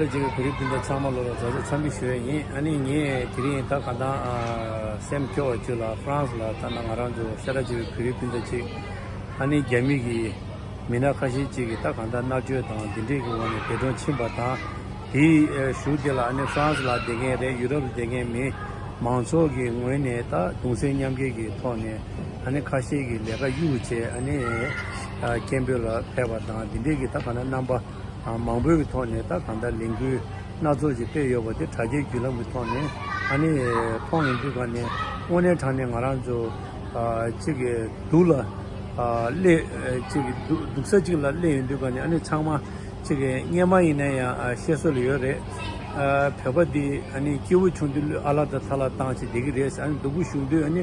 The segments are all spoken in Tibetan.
ལོ་རྗེས་ཀྱི་གོ་རིམ་དེ་འདྲ་ཚང་མ་ལོ་རོགས་རྫ་ཚོར་འཚམས་འདྲི་ཞུ་རན་ཡིན་ཨ་ནི་ངས་དེ་རིང་ད་ག་འདང་ཨ་སེམས་སྐྱོ་བ་བཅུ་ལ France ལ་ལྟ་ན་ང་རང་ཚོ་ཤ་ཁྲ་ཆེ་བའི་བོད་རིགས་སྤུན་ཟླ་གཅིག་ཨ་ནི་རྒྱ་མི་གི་མི་སྣ་ཁ་ཤས་གཅིག་གིས་ད་ག་འདང་མནར་གཅོད་དང་འདི་འདྲས་ཀྱི་འོག་ནས་འདས་གྲོངས་ཕྱིན་པ་དང་དེའི་གཞུག་དེ་ལ་ཨ་ནི France ལ་བསྡད་མཁན་རེད་ཡུ་རོབ་ལ་བསྡད་མཁན་མི་མང་ཚོགས་ཀྱི་ངོས་ནས་ད་གདུང་སེམས་མཉམ་སྐྱེད་ཀྱི་ཐོག་ནས་ཨ་ནི་ཁ་ཤས་ཀྱི་ལས་ཀ་གཡུག་བྱས་ཨ་ནི་སྐད་འབོད་ལ་ཕེབས་པ་དང་འདི་འདྲས་ཀྱི་ད་ག་འདང་རྣམ་པ། མང་པོའི་གི་ཐོག་ནས་ད་གང་ལྟར་ལས་འགུལ་སྣ་ཚོགས་ཅིག་སྤེལ་ཡོད་པ་དེ་དྲ་རྒྱའི་བརྒྱུད་ལམ་གི་ཐོག་ནས་ད་ནི་མཐོང་ཡོང་དུས་ག་ནས་དངོས་གནས་དྲ་ནས་ང་རང་ཚོ་གཅིག་གི་སྡུག་ལ་སླེ་གཅིག་གི་སྡུག་ས་གཅིག་ལ་སླེ་ཡོང་དུས་ག་ནས་ཨ་ནི་ཚང་མ་གཅིག་གི་བརྙན་མ་ཡིན་ན་ཡང་བཤད་སྲོལ་ལ་ཡོད་རེད། བོད་པ་འདི་ཨ་ནི་སྐྱེ་བོ་ཆུང་དུས་ལུས་ཨ་ལ་དང་ཚ་ལ་བཏང་ཅིག་བསྡད་གི་རེད་ཨ་ནི་སྡུག་པོ་ཞུགས་དུས་ཨ་ནི།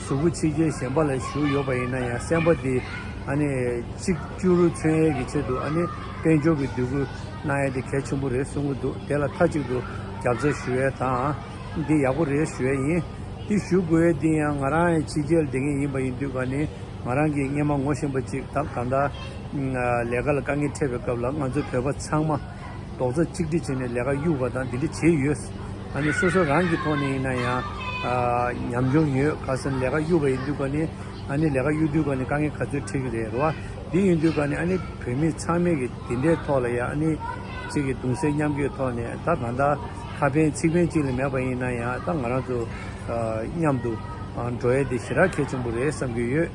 གཟུགས་པོ་ཆེ་རྒྱལ་གཞན་པ་ལ་བཞུགས་ཡོད་པ་ཡིན་ན་ཡང་སེམས་པ་དེ་ཨ་ནི་གཅིག་གྱུར་མཚོན་ཡས་ཀྱི་ཆེད་དུ་ཨ་ནི་དཔལ་འབྱོར་གྱི་འདོད་རྒུ་གནང་ཡས་དེ་གལ་ཆེན་པོ་རེད་གསུང་གི་འདུག་དེ་ལ་མཐའ་གཅིག་ཏུ་རྒྱབ་རྩ་ཞུ་ཡས་དང། འདི་ཡག་པོ་རེད་ཞུ་ཡས་ཡིན། འདི་ཞུ་དགོས་ཡས་འདི་ཡང་ང་རང་ཡང་ཕྱི་རྒྱལ་བསྡད་མཁན་ཡིན་པ་ཡིན་དུས་ཨ་ནི་ང་རང་གི་སྙེ་མ་ངོ་ཤེས་པ་གཅིག་ད་གང་ལྟར། ལས་ཀ་ལ་དཀའ་ངལ་འཕྲད་པའི་སྐབས་ལ་ང་ཚོ་བོད་པ་ཚང་མ། རྡོག་རྩ་གཅིག་སྒྲིལ་བྱས་ནས་ལས་ཀ་གཡུག་པ་དང་དེ་འདྲ་བྱས་ཡོད། ད་ནི་སོ་སོ་རང་གི་ཐོག་ནས་ཡིན་ན་ཡང་ཉམས་ཆུང་ཡོད། ག་སོང་ལས་ཀ་གཡུག་པ་ཡིན་དུས་སྐབས་ནི་ཨ་ནི་ལས་ཀ་གཡུག་དུས་སྐབས་ནི་དཀའ་ངལ་ག་ཚོད་འཕྲད་ཀྱི་རེད་རོ། དེ་ཡིན་དུས་སྐབས་ནི་ཨ་ནི་བོད་མི་ཚང་མས་ཀྱི་དེ་འདྲའི་ཐོག་ལ་ཡང་ཨ་ནི་ཅིག་གི་གདུང་སེལ་མཉམ་སྐྱོད་ཐོག་ནས་ད་གང་ལྟར་ཁ་ཕན་ཚིག་ཕན་གཅིག་ལས་མེད་པ་ཡིན་ན་ཡང་ད་ང་རང་ཚོ་མཉམ་དུ་འགྲོ་ཡས་དེ་ཞེ་དྲག་གལ་ཆེན་པོ་རེད་བསམ་གྱི་ཡོད།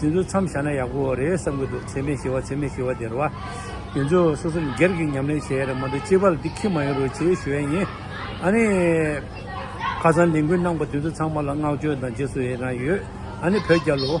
དེ་ཚོ་མཚམས་བཞག་ན་ཡག་པོ་རེད་བསམ་གྱི་འདུག་ཚེག་མེད་ཞི་བ་ཚེག་མེད་ཞི་བ་དེར་བ། དེ་ཚོ་སོ་སོ་སྒེར་གྱི་ཉམས་ལེན་བྱེད་ཡ་རེད་མ་འདུག་སྤྱི་བར་འདི་ཁྱི་མ་ཡིན་རུང་བྱེད་ཞུ་ཡ་ཡིན། ཨ་ནི། ཁ་སང་ལས་འགུལ་གནང་པ་དེ་ཚོ་ཚང་མ་ལ་བསྔགས་བརྗོད་དང་རྗེས་སུ་ཡི་རང་ཡོད། ཨ་ནི་བོད་རྒྱ་ལོ།